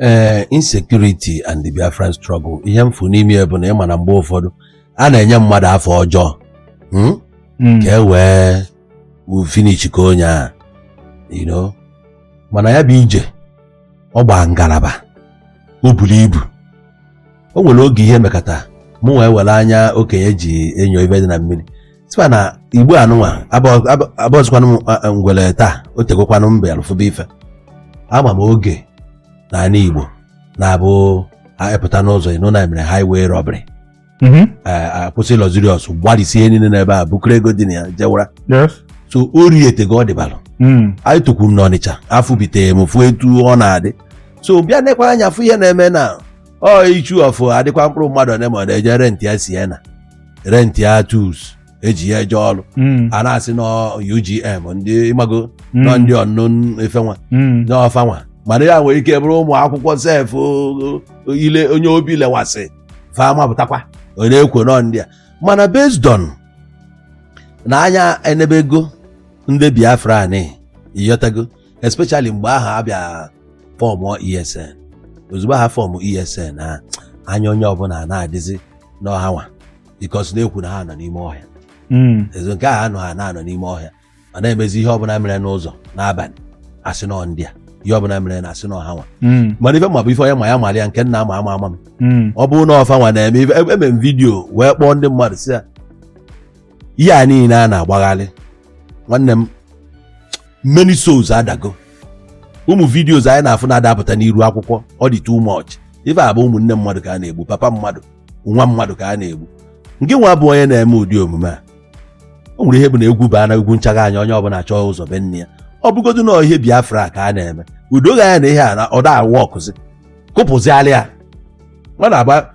ee insecurity and the Biafran struggle ihe m fụ n'ime ya bụ na ịma na mgbe ụfọdụ a na-enye mmadụ afa ọjọọ hmm? Mm. ka e wee u- finish ka onye a you know mana ya bụ ije ọ gbaa ngalaba o buru ibu o nwere oge ihe mekata mụ wee were anya okenye ji enyo ife dị na mmiri sịkwa na igbo anụ nwa abụzikwanụ m a- a- ngwere taa o tegokwanụ mbe alụfụba ife ama m oge na ala igbo na-abụ a pụta n'ụzọ ị nụ na e mere highway robbery Mhm. a- a kwụsị luxurious gbarisie niile n'ebe ahụ bukọrọ ego dị na ya jewara Yes. so ori etego ọ dịbalụ Mm. anyị tụkwu m n'ọnịcha afọ bitere m fụ etu ọ na-adị so bịa nekwa anya fụ ihe na-eme na ọ ichu ọfụ adịkwa mkpụrụ mmadụ one ma ọ na-eje rent ya sienna rent ya tools eji ya eje ọrụ Mm. a na-asị na UGM ndị ị mago Mm. na ọ ndị unknown ifenwa Mm. na ọ fanwa mana ya nwere ike bụrụ ụmụ akwụkwọ sef o- o- ile onye obi lewasị fa mapụtakwa ọ na-ekwo nọ ndị a mana based on na anya enebego ndị biafran ị ghọtago especially mgbe ahụ a bịa fọmụ ESN ozugbo ha fọmụ ESN ha anya onye ọbụla na-adịzi na hanwa because a na-ekwu na ha nọ n'ime ọhịa Mm. ezo nke ahụ anọ ha na-anọ n'ime ọhịa ọ na-emezi ihe ọbụla mere n'ụzọ n'abalị a sị na ọ ndị a ihe ọbụla mere na a sị na ọ hanwa Mm. mana ife m ma bụ ife onye ma ya mara ya nke nna ama ama ama m Mm. ọ bụrụ na ọ fanwa na-eme ife eme m video wee kpọọ ndị mmadụ sị ya ihe a niile a na-agbagharị nwanne m many souls adago ụmụ videos anyị na-afụ na-adapụta n'iru akwụkwọ ọ dị too much ife a bụ ụmụnne mmadụ ka a na-egbu papa mmadụ nwa mmadụ ka a na-egbu ngị nwa bụ onye na-eme ụdị omume a o nwere ihe bụ na egwu baa na egwu nchagha anya onye ọbụla chọọ ụzọ be nne ya ọ bụgodu na ihe biafra ka a na-eme udo ga ya na ihe a na ọ da awọkụzi kụpụzialị ya ọ na-agba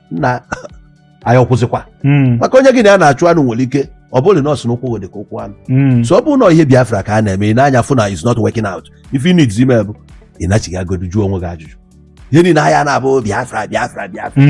na anyị ọkwụzikwa Mm. maka onye gị na ya na-achụ anụ nwere ike ọ bụrụ na ọ sị na ụkwụ dị ka ụkwụ anụ Mm. so ọ bụrụ na ihe biafra ka a na-eme i nee anya fụ na it's not working out ife ị need ime bụ ị nachighagodu jụọ onwe gị ajụjụ ihe niile anyị na-abụ biafra biafra biafra